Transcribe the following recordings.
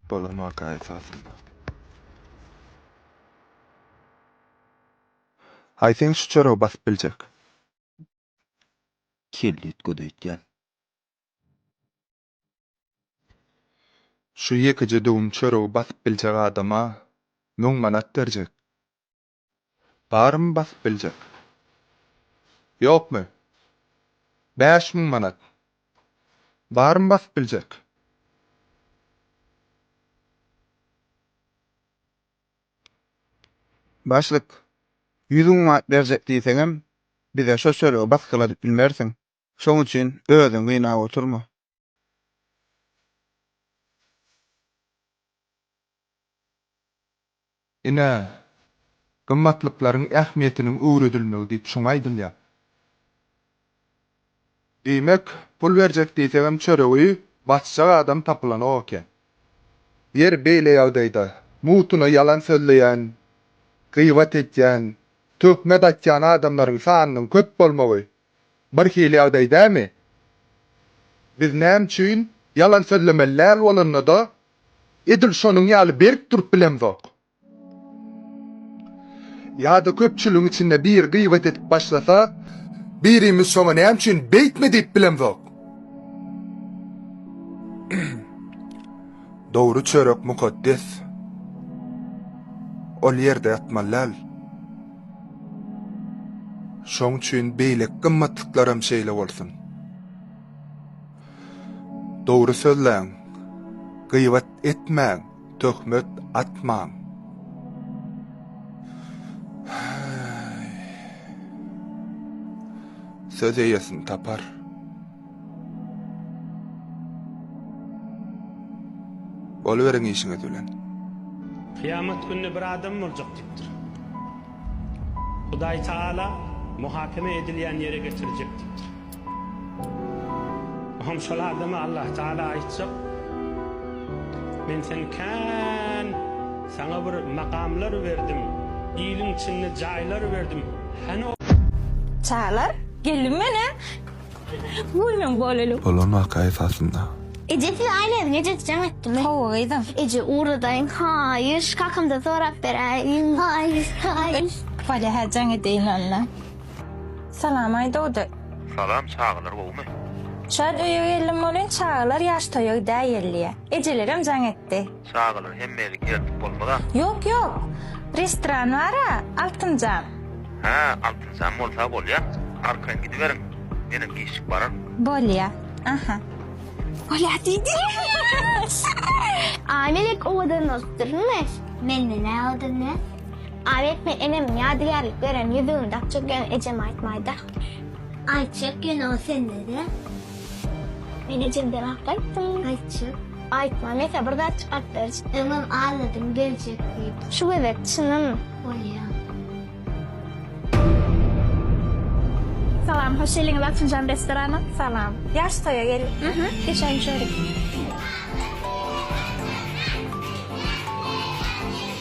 Bolamaka esasynda. Aý sen şu çoragy basyp biljek. Kelle itgöz öýtýän. Şu ýekeje döwüm çoragy basyp biljek adama müň manat berjek. Barmy basyp biljek? Ýokmy? Bäş müň manat. Barmy basyp biljek? Başlyk, ýüz müň manat berjek diýseňem, bize şo çöregi basgyladyp bilmersiň. Şoň üçin özüňi gynap oturma. Ine, gymmatlyklaryň ähmiýetiniň öwredilmegi diýip şuňa aýdylýar. Diýmek, pul berjek diýsegem çöregi basjak adam tapylanok eken. Ýeri beýle ýagdaýda, mugtuna ýalan sözleýän, gybat edýän, töhmet atýan adamlaryň sanynyň köp bolmagy Bir hili ýagdaý dämi? Biz näme üçin ýalan sözlemeli däl bolanda-da, edil şonuň ýaly berk durup bilemzok? Ýa-da köpçüligiň içinde biri gybat edip başlasa, birimiz şoňa näme üçin beýtme diýip bilemzok? Dogry çörek mukaddes. Ol ýerde ýatmaly däl. Şoň üçin beýleki gymmatlyklaram şeýle bolsun. Dogry sözläň. Gyýbat etmäň, töhmet atmaň. Söz eýesini tapar. Bolyberiň işiňiz bilen. Kyýamat gününe bir adam boljak diýipdir. Hudaý Taala muhakeme edilýän ýere getirjek diýipdir. Bu hem şol adama Allah Taala aýtjak, Men seni kän saňa bir makamlar berdim, iliň içinde jaýlar berdim, hany ol. Çagalar, geldim men-ä. Görmeň boleli. Bolan waka esasynda. Eje siz aýlaň ejesi jaň etdimi. Hawa gyzym. Eje ugradaýyň haýyş kakamdan sorap beräýiň haýyş haýyş. Bolýa hä jaň edeýin onda. Salam aý dogdy. Salam çagalar gowmy. Şad öýe geldim bolin çagalar ýaş toýa gidäýelliä. Ejelerem jaň etdi. Çagalar hemmeli gelip bolmaz-a. Ýok ýok. Restoran bar-a, Altynjan. Hä, Altynjan bolsa bolýa. Arkaýyn gidiberiň. Menem giçjik bararyn. Bolýa. Aha. Bolýa diýdi. Amelek owadan bolupdyrmy? Menden-ä owadan däl. Amelek men enemiň ýadygärlik beren ýüzügini dakjak ýöne ejeme aýtmaýda. Aýtjak ýöne ol sende-de. Men ejemden ak aýtdym. Aýtjak. Aýtma, men saňa bir zat çykaryp berjek. Öňem aladym geljek diýip. Şu gezek çynym. Bolýa. Salam, hoş geliňiz Altynjan restorana. Salam. Ýaş toýa geldik. Hä? Geçen çörek.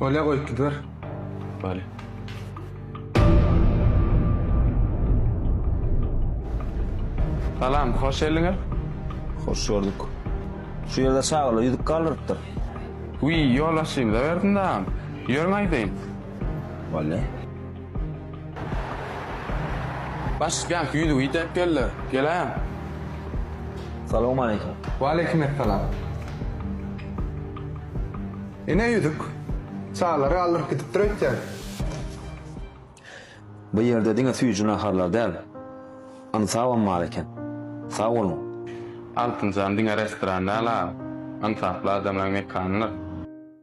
Bolýa goýup gidiber. Bale. Salam, hoş geldiňiz. Hoş gördük. Şu ýerde çagalar ýüzüp galdyrypdyr. Wiý, ýolbaşçymyza berdim dagam. Ýörüň aýdaýyn. Bale. Baş bank ýüzügi ýitep geldi. Geläýem. Salowmaleýkim. Waleýkim essalam. Ine ýüzük. Çagalary galdyryp gidipdir öýtýän. Bu ýerde diňe süýji naharlar däl, ynsabam bar eken. Sag boluň. Altynjan diňe restoran däl-a. Ynsaply adamlaryň mekanydyr.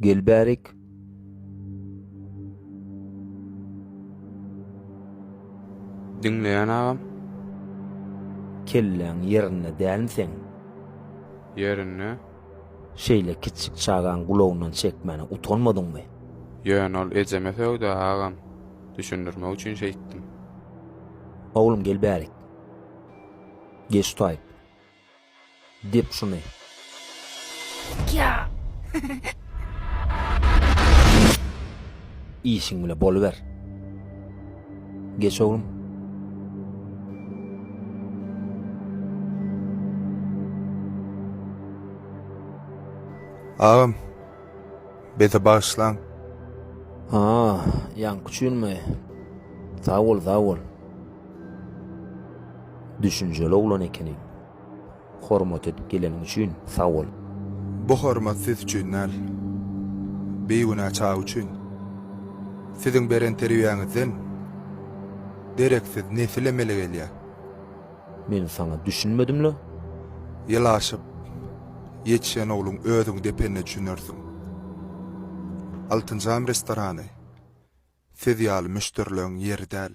Gel bärik. Diňleýän agam. Kelläň ýerinde dälmi seň? Ýerinde. Şeýle kiçjik çagaň gulagyndan çekmäne utanmadyňmy? Ýöne ol ejeme sögdä agam. Düşündirmek üçin şeýtdim. Oglum gel bärik. Geç taýyp. Dep şuny. Işiň bile boluber. Geç oglum. Agam. Bete bağışlan. Ha, yan küçülme. Sağ ol, sağ ol. Düşünjeli oglan ekeniň. Hormat edip geleniň üçin sag bol. Bu hormat siz üçin däl. Bigünä çaga üçin. Siziň beren terbiýäňizden dereksiz nesil emele gelýär. Men saňa düşünmedimle? Ýylaşyp ýetişen ogluň özüň depende düşünersiň. Altynjam restorany siz ýaly müşderileň ýeri däl.